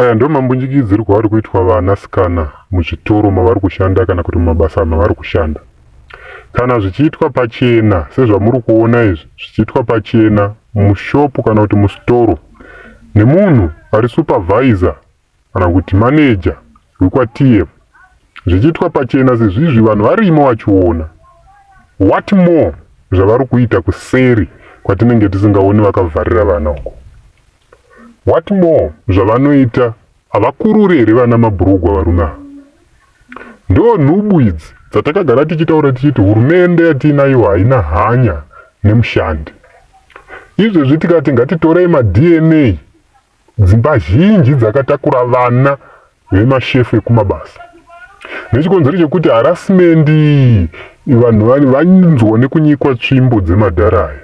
Aya ndiwo mambunjikidzirwo ari kuitwa vanasikana muzvitoro mavari kushanda kana kuti mumabasa mavari kushanda. Kana zvichiitwa pachena sezvamuri kuona izvi zvichiitwa pachena mushopu kana kuti musitoro nemunhu ari supervisor kana kuti manager wekwaTM zvichiitwa pachena sezvizvi vanhu varimo vachiona what more zvavari kuita kuseri kwatinenge tisingaoni vakavharira vana uko What more zvavanoita havakurure here vana mabhurugwa varume ava? Ndo nhubu idzi dzatakagara tichitaura tichiti hurumende yatiinayo haina hanya nemushandi. Izvezvi tikati ngatitorei maDNA dzimba zhinji dzakatakura vana vemashefu ekumabasa nechikonzero chekuti harasimendi vanhu vanzwa nekunyikwa tsvimbo dzemadhara aya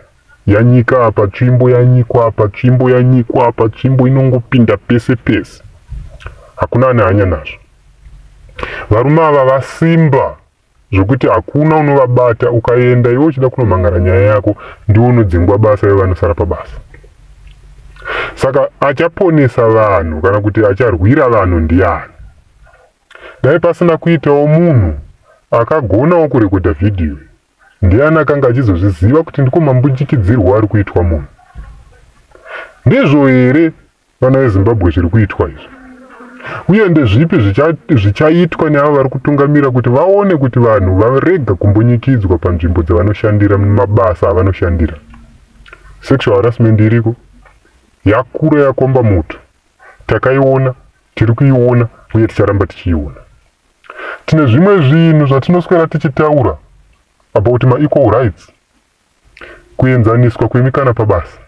yanyika apa tsvimbo yanyikwa apa tsvimbo yanyikwa apa tsvimbo inongopinda pese pese hakuna ane hanya nazvo varume ava vasimba zvekuti hakuna unovabata ukaenda iwe uchida kunomhangara nyaya yako ndiwo unodzingwa basa iwe vanosara pabasa saka achaponesa vanhu kana kuti acharwira vanhu ndiani dai pasina kuitawo munhu akagonawo kurekodha vhidhiyo ndiani akanga achizozviziva kuti ndiko mambunjikidzirwo ari kuitwa munhu ndizvo here Vana veZimbabwe zviri kuitwa izvi uye ndezvipi zvichaitwa neavo vari kutungamira kuti vaone kuti vanhu varega kumbunyikidzwa panzvimbo dzavanoshandira mumabasa avanoshandira sexual harassment iriko yakura yakomba mutu takaiona tiri kuiona uye ticharamba tichiiona tine zvimwe zvinhu zvatinoswera tichitaura about maequal rights kuenzaniswa kwemikana pabasa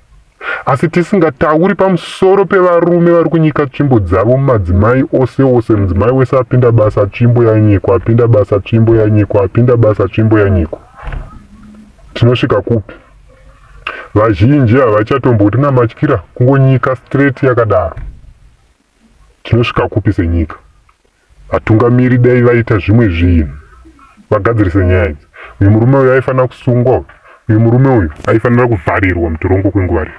asi tisingatauri pamusoro pevarume vari kunyika tsvimbo dzavo mumadzimai ose ose mudzimai wese apinda basa tsvimbo yanyikwa apinda basa tsvimbo yanyikwa apinda basa tsvimbo yanyikwa tinosvika kupi vazhinji havachatomboti namatyira kungonyika straight yakadaro tinosvika kupi senyika Vatungamiri dai vaita zvimwe zvinhu vagadzirise nyaya idzi. Uyu murume uyu aifanira kusungwa uyu. Uyu murume uyu aifanira kuvharirwa mutirongo kwenguva refu.